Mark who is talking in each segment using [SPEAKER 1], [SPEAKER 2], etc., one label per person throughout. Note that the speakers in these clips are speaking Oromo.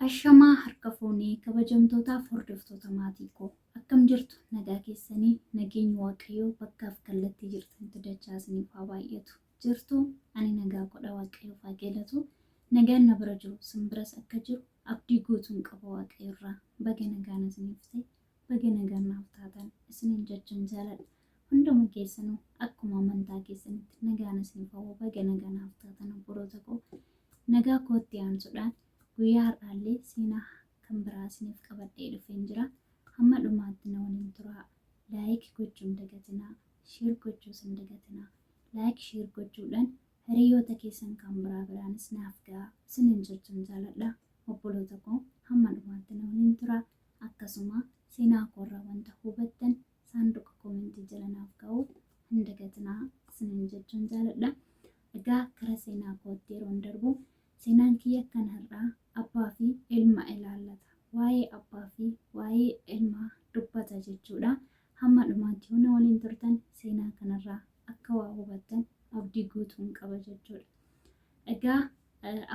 [SPEAKER 1] Ashamaa harka fuunee kabajamtootaaf hordoftoota maatii koo akkam jirtu nagaa keessanii nageenyi waaqayyoo bakkaaf kallattii jirtanitti dachaa isiniif haa baay'atu jirtu ani nagaa godha waaqayyoof haa galatu nagaan na bira jiru sin biras akka jiru abdii guutuun qaba waaqayyoorraa baga nagaan isiniif ta'e Baga nagaan naaf taatan isiniin jechan jaaladha. Hunduma keessanuu akkuma amantaa keessanitti nagaan isiniif hawwa baga nagaa naaf taatan obboloota koo. Nagaa kootti aansuudhaan guyyaa har'aallee seenaa kan biraa isiniif qabadhee dhufeen jira. Hamma dhumaatti na waliin turaa. Laayik gochuun dagatinaa, sheer gochuus hin dagatinaa. Laayik sheer gochuudhaan hiriyoota keessan kan biraa biraanis naaf gahaa isiniin jechan jaaladha. Obboloota koo hamma dhumaatti na waliin turaa. Akkasuma seenaa koorraa wanta hubattan saanduqa koomentii jala naaf kaa'uu hin dagatinaa isiniin jechuun jaaladha. Egaa gara seenaa kootti yeroon darbu seenaan kiyya kan har'aa abbaa fi ilma ilaallata. Waa'ee abbaa fi waa'ee ilmaa dubbata jechuudha. Hamma dhumaatti yoo na waliin turtan seenaa kanarraa akka waa hubattan abdii guutuun qaba jechuudha. Egaa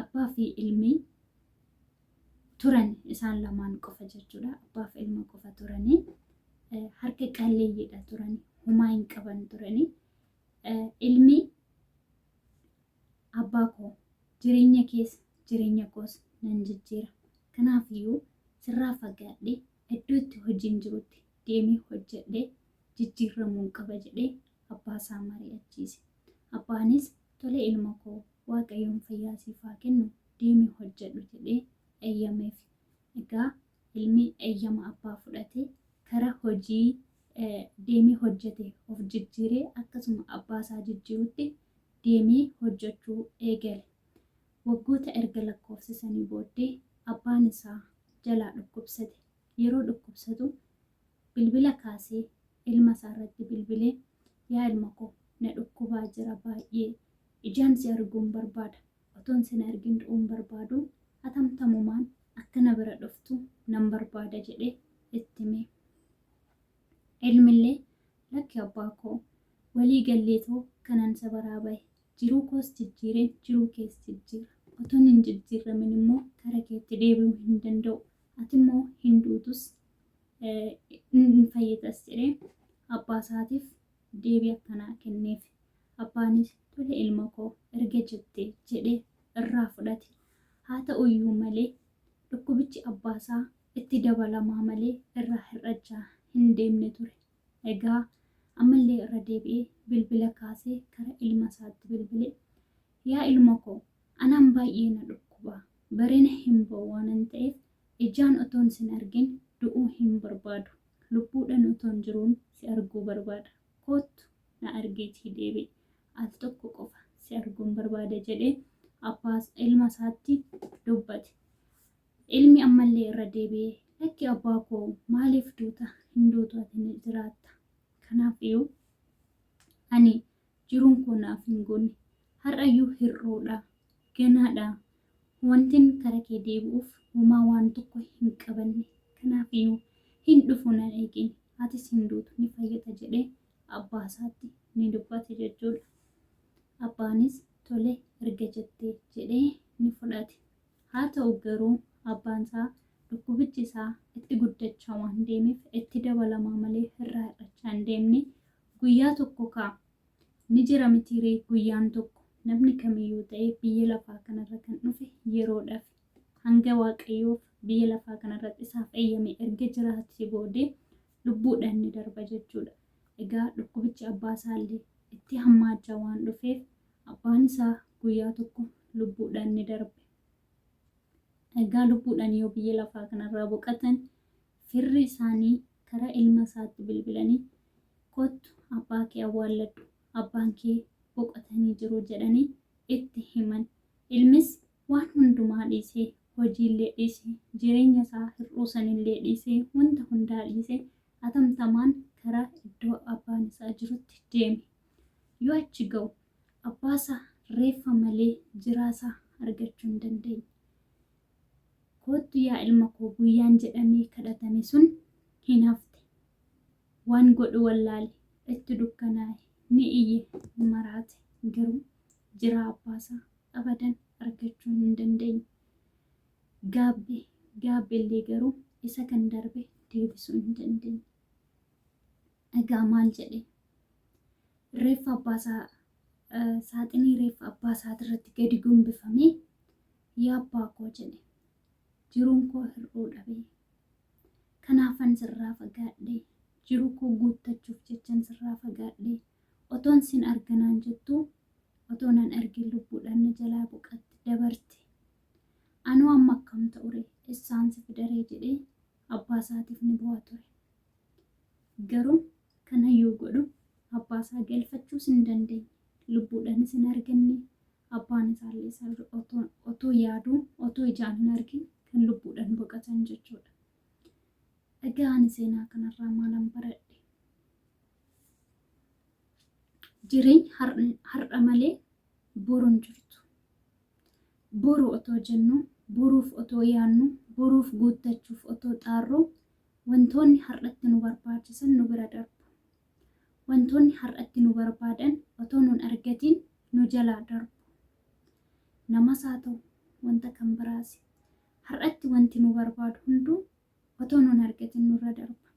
[SPEAKER 1] abbaa fi ilmi turan isaan lamaan qofa jechuudha. Abbaaf ilma qofa turanii harka qalleeyyiidha turan humaa hin qaban turanii ilmi abbaa koo jireenya keessa jireenya koos nan jijjiira. Kanaaf iyyuu sirraa fagaadhee iddoo itti hojiin jirutti deemee hojjedhee jijjiirramuun qaba jedhee abbaa isaa mari'achiise. Abbaanis Tole ilma koo waaqayyoon fayyaa siif haa kennu deemi hojjedhu jedhee eyyameef. Egaa ilmi eyyama abbaa fudhate kara hojii deemee hojjete of jijjiiree akkasuma abbaa isaa jijjiirutti deemee hojjechuu eegale. Waggoota erga lakkoofsisanii booddee abbaan isaa jalaa dhukkubsate. Yeroo dhukkubsatu bilbila kaasee ilma isaa irratti bilbilee yaa ilma koo na dhukkubaa jira baay'ee ijaan si arguun barbaada otoon sin argin du'uun barbaadu hatamtamumaan akka na bira dhuftu nan barbaada jedhee itti hime. Ilmillee lakki abbaa koo walii galleetoo kanan isa baraa bahe jiruu koos jijjiireen jiruu kees jijjiira otoon hin jijjiirramin immoo kara keetti deebi'uu hin danda'u Ati immoo hin duutus hin fayyitas jedhee abbaa isaatiif deebii akkanaa kenneef. Abbaanis tole ilma koo erga jette jedhee irraa fudhate. Haa ta'u iyyuu malee dhukkubichi abbaa isaa itti dabalamaa malee irraa hir'achaa hin deemne ture. Egaa ammallee irra deebi'ee bilbila kaasee kara ilma isaatti bilbile. Yaa ilma koo, anaan baay'ee na dhukkuba, barina hin ba'u waanan ta'eef, ijaan otoon sin argin du'uu hin barbaadu, lubbuudhan otoon jiruun si arguu barbaada, koottu na argiitii deebi'i, al tokko qofa si arguun barbaada jedhee abbaa ilma isaatti dubbate. Ilmi ammallee irra deebi'ee, lakki abbaa koo maaliif duuta, hin duutu ati ni jiraatta. Kanaafiyyuu ani jiruun koo naaf hin goone. Har'ayyuu hir'uudha. Ganaadha. Wantin kara kee deebi'uuf homaa waan tokko hin qabanne. Kanaafiyyuu hin dhufu na eegi. Atis hin duutu ni fayyita jedhee abbaasaatti ni dubbate jechuudha. Abbaanis tole erga jette jedhee ni fudhate. Haa ta'u garuu abbaansaa dhukkubichi isaa itti guddachaa waan deemeef itti dabalamaa malee irraa hir'achaa hin deemne Guyyaa tokko kaa! Ni jira mitii ree guyyaan tokko! Namni kamiyyuu ta'e biyya lafaa kanarra kan dhufe yeroodhafi. Hanga Waaqayyoof biyya lafaa kanarratti isaaf eyyame erga jiraatee boodee lubbuudhaan ni darba jechuudha. Egaa dhukkubichi abbaa isaallee itti hammaachaa waan dhufeef abbaan isaa guyyaa tokko lubbuudhaan ni darbe. Egaa lubbuudhaan yoo biyya lafaa kanarraa boqatan Firri isaanii gara ilma isaatti bilbilanii, Kottu abbaa kee awwaalladhu, abbaan kee boqotanii jiru jedhanii itti himan. Ilmis waan hundumaa dhiisee, hojiillee dhiisee, jireenya isaa hir'uu sanillee dhiisee, wanta hundaa dhiisee atamtamaan gara iddoo abbaan isaa jirutti deeme. Yoo achi ga'u abbaa isaa reeffa malee jiraa isaa argachuu hin dandeenye. Koottu yaa ilma koo guyyaan jedhamee kadhatame sun hin hafte. Waan godhu wallaale. Itti dukkanaa'e. Ni iyye. Maraate. Garuu jiraa abbaasaa abadan argachuu hin dandeenye. Gaabbe. Gaabbe illee garuu isa kan darbe deebisuu hin dandeenye. Egaa maal jedhe? Reeffa abbaa isaa eh, saaxinii reeffa abbaa isaati irratti gadi gombifamee yaa abbaa koo jedhe jiruun koo hir'uu dhabe. Kanaafan sirraa fagaadhe jiruu koo guuttachuuf jechan sirraa fagaadhe otoon sin arganaan jettu otoo nan argin lubbuudhaan na jalaa boqatte dabarte. Anoo amma akkam ta'ure essaan si fidaree jedhee abbaa isaatiif ni bu'a ture. Garuu kana yoo godhu abbaa isaa galfachuus hin dandeenye. Lubbuudhaanis hin arganne. Abbaan isaallee isa otoo, otoo yaaduu, otoo ijaan hin argin kan lubbuudhaan boqotan jechuudha. Egaa ani seenaa kanarraa maalan baradhe? Jireenyi har- har'a malee boru hin jirtu. Boru otoo jennuu, boruuf otoo yaannuu, boruuf guuttachuuf otoo xaarruu, wantoonni har'atti nu barbaachisan nu bira darbu. Wantoonni har'atti nu barbaadan otoo nun argatiin nu jalaa darbu. Namas haa ta'u wanta kan biraasi. Har'atti wanti nu barbaadu hunduu otoo nun argatiin nurra darba.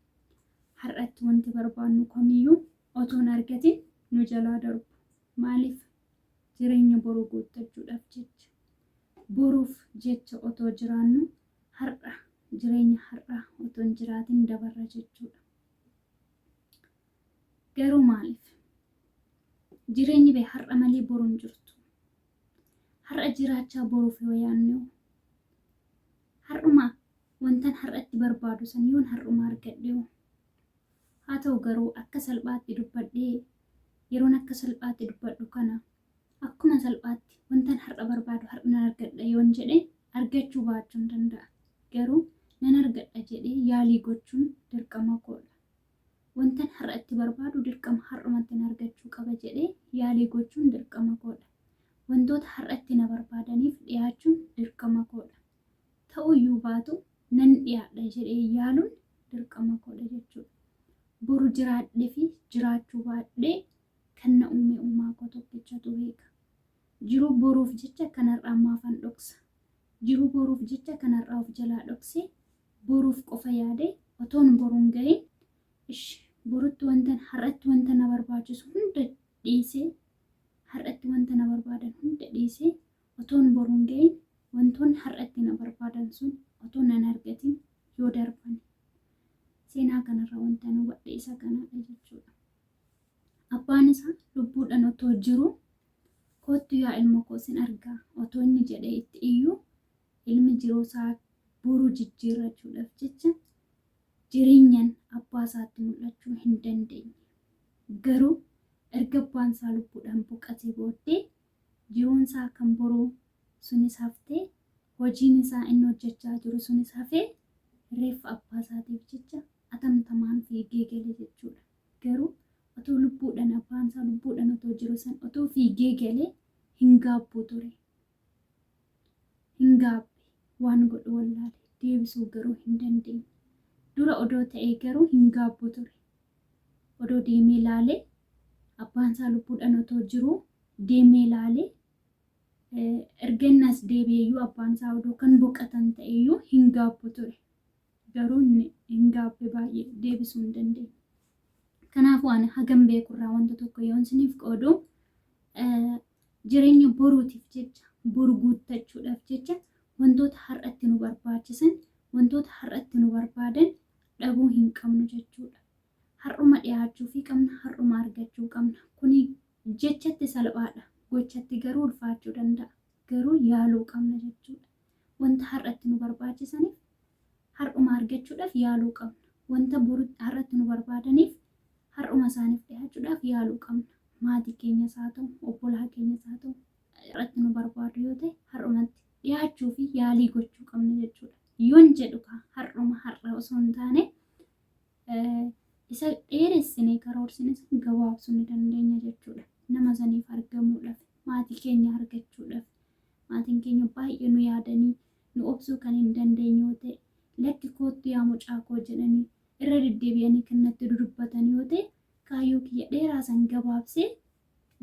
[SPEAKER 1] Har'atti wanti barbaannu kamiyyuu otoo hin argatiin nu jalaa darbu. Maaliif? Jireenya boruu guuttachuudhaaf jecha, boruuf jecha otoo jiraannu har'a jireenya har'aa otoo hin jiraatin dabarra jechuudha. Garuu maaliif? Jireenyi bee har'a malee boru hin jirtu. Har'a jiraachaa boruuf yoo yaanne hoo? Har'uma wantan har'atti barbaadu san yoon har'uma argadhe hoo? Haa ta'u garuu akka salphaatti dubbadhee yeroon akka salphaatti dubbadhu kana akkuma salphaatti wantan har'a barbaadu har'a nan argadha yoon jedhe argachuu baachuun danda'a. Garuu nan argadha jedhee yaalii gochuun dirqama koodha. Wantan har'atti barbaadu dirqama har'umatti nan argachuu qaba jedhee yaalii gochuun dirqama koodha. Wantoota har'atti na barbaadaniif dhiyaachuun dirqama koodha. Ta'uyyuu baatu nan dhiyaadha jedhee yaaluun dirqama koodha jechuudha. Boru jiraadhe fi jiraachuu baadhe kan na uume uumaa koo tokkichatu beeka. Jiruu boruuf jecha kan har'aa maafan dhoksa? Jiruu boruuf jecha kan har'aa of jalaa dhoksee boruuf qofa yaade otoon boruun gahin ish borutti wantan har'atti wanta na barbaachisu hunda dhiisee har'atti wanta na barbaadan hunda dhiisee Otoon boru hin ga'iin wantoonni har'a itti na barbaadan sun otoo na hin argatiin yoo darban. Seenaa kanarraa wantan hubadhe isa kanadha jechuudha. Abbaan isaa lubbuudhaan otoo jiruu koottu yaa ilma koo sin argaa otoo inni jedhee itti iyyuu ilmi jiruu isaa boru jijjiirrachuudhaaf jecha jireenyaan abbaa isaatti mul'achuu hin dandeenye. Garuu erga abbaan isaa lubbuudhaan boqatee booddee jiruun isaa kan boruu sunis haftee, hojiin isaa inni hojjechaa jiru sunis hafee reeffa abbaa isaatiif jecha atamtamaan fiigee gale jechuudha. Garuu otoo lubbuudhan abbaan isaa lubbuudhan otoo jiru san otoo fiigee galee hin gaabbuu ture. Hin gaabbe. Waan godhu wallaale. Deebisuu garuu hin dandeenye. Dura odoo ta'ee garuu hin gaabbu ture. Odoo deemee laale abbaansaa lubbuudhaan otoo jiruu deemee laale erga inni as deebi'eyyuu abbaansaa odoo kan boqatan ta'eyyuu hin gaabbu ture. garuu inni hin gaabbe baay'ee deebisuu hin dandeenye. Kanaafuu ani hagam beekurraa wanta tokko yoon isiniif qoodu jireenya boruutiif jecha boru guuttachuudhaaf jecha wantoota har'atti nu barbaachisan wantoota har'atti nu barbaadan dhabuu hin qabnu jechuudha. Har'uma dhiyaachuu fi qabna har'uma argachuu qabna. Kuni jechatti salphaadha gochatti garuu ulfaachuu danda'a garuu yaaluu qabna jechuudha. Wanta har'a itti nu barbaachisaniif har'uma argachuudhaaf yaaluu qabna. Wanta boru har'a itti nu barbaadaniif har'uma isaaniif dhihaachuudhaaf yaaluu qabna. Maatii keenyas haa ta'u, obbolaa keenyas haa ta'u, har'a itti nu barbaadu yoo ta'e har'umatti dhihaachuu fi yaalii gochuu qabna jechuudha. Yoon jedhu kaa har'uma har'a osoo hin taane isa dheeressinee karoorsine sun gabaabsuu ni dandeenya jechuudha. Nama saniif argamuudhaaf, maatii keenya argachuudhaaf, Maatiin keenya baay'ee nu yaadanii, nu obsuu kan hin dandeenye yoo ta'e, Lakki koottu yaa mucaa koo jedhanii irra deddeebi'anii kan natti dudubbatan yoo ta'e, kaayyoo kiyya dheeraa san gabaabsee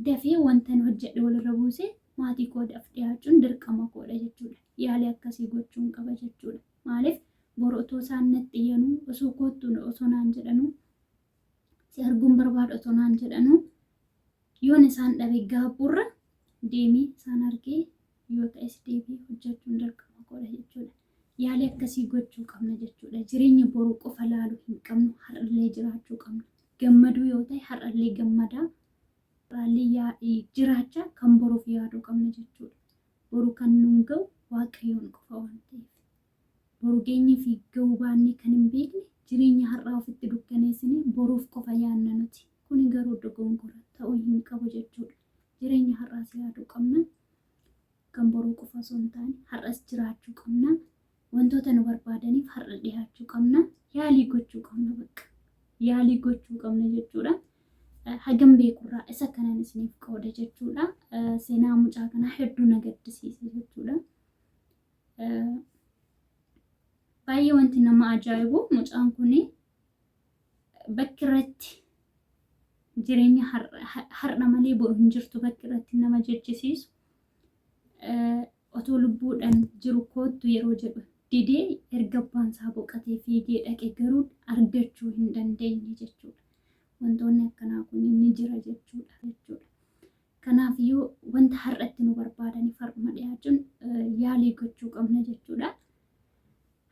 [SPEAKER 1] dafee wantan hojjedhe walirra buusee maatii koo daf dhiyaachuun dirqama koodha jechuudha. Yaalii akkasii gochuun qaba jechuudha. Maaliif boru otoo isaan natti iyyanuu, osoo koottu osoo naan jedhanuu, si arguun barbaada otoo naan jedhanuu yoon isaan dhabe gaabburra deemee isaan argee yoo ta'es deebii hojjechuun dirqama godha jechuudha. Yaalii akkasii gochuu qabna jechuudha. Jireenya boruu qofa laaluu hin qabnu har'allee jiraachuu qabna. Gammaduu yoo ta'e har'allee gammadaa har'allee jiraachaa kan boruuf yaaduu qabna jechuudha. Boru kan nuun ga'u waaqayyoon qofa waan ta'eef. Boru geenyee fi ga'uu baannee kan hin beekne, jireenya har'aa ofitti dukkaneessinee boruuf qofa yaadna nuti. Kuni garuu dogongora, ta'uu hin qabu jechuudha. Jireenya har'aas yaaduu qabna. Kan boruu qofa osoo hin taane, har'as jiraachuu qabna. Wantoota nu barbaadaniif har'a dhihaachuu qabna. Yaalii gochuu qabna bakka. Yaalii gochuu qabna jechuudha. Hagam beekurraa isa kanan isiniif qooda jechuudha. Seenaa mucaa kanaa hedduu na gaddisiise jechuudha. Baay'ee wanti nama ajaa'ibu mucaan kun bakki irratti jireenya har'a malee boru hin jirtu bakki irratti nama jechisiisu otoo lubbuudhaan jiru koottu yeroo jedhu didee erga abbaan isaa boqatee fiigee dhaqe garuu argachuu hin dandeenye jechuudha. Wantoonni akkanaa kun ni jira jechuudha jechuudha. Kanaafiyyuu wanta har'a itti nu barbaadaniif har'uma dhiyaachuun yaalii gochuu qabna jechuudha.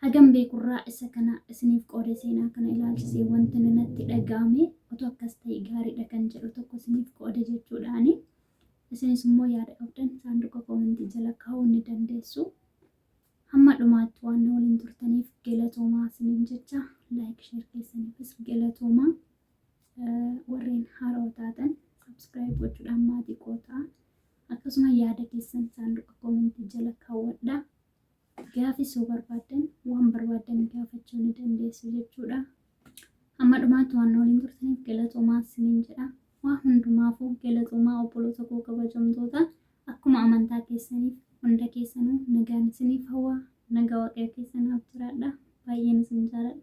[SPEAKER 1] Hagam beekurraa isa kana isiniif qoode seenaa kana ilaalchisee wanti natti dhaga'ame otoo akkas ta'e gaariidha kan jedhu tokko isiniif qoode jechuudhaani. Isinis immoo yaada qabdan saanduqa koomentii jala kaa'uu ni dandeessu. Hamma dhumaatti waan na waliin turtaniif galatoomaa isiniin jecha laayik sheer keessaniifis galatoomaa. Warreen haarawa taatan subscribe gochuudhaan maatii koo ta'a. Akkasuma yaada keessan saanduqa koomentii jala kaawwadhaa. Gaafis yoo barbaaddan waan barbaaddan gaafachuu ni dandeessu jechuudha. Amma dhumaatti waan waliin turtaniif galatoomaa isiniin jedha. Waa hundumaafuu galatoomaa obboloota koo kabajamtoota akkuma amantaa keessaniif hunda keessanuu nagaan isiniif hawwa. Nagaa waaqayyo keessanaaf jiraadha. Baay'een isin jaaladha.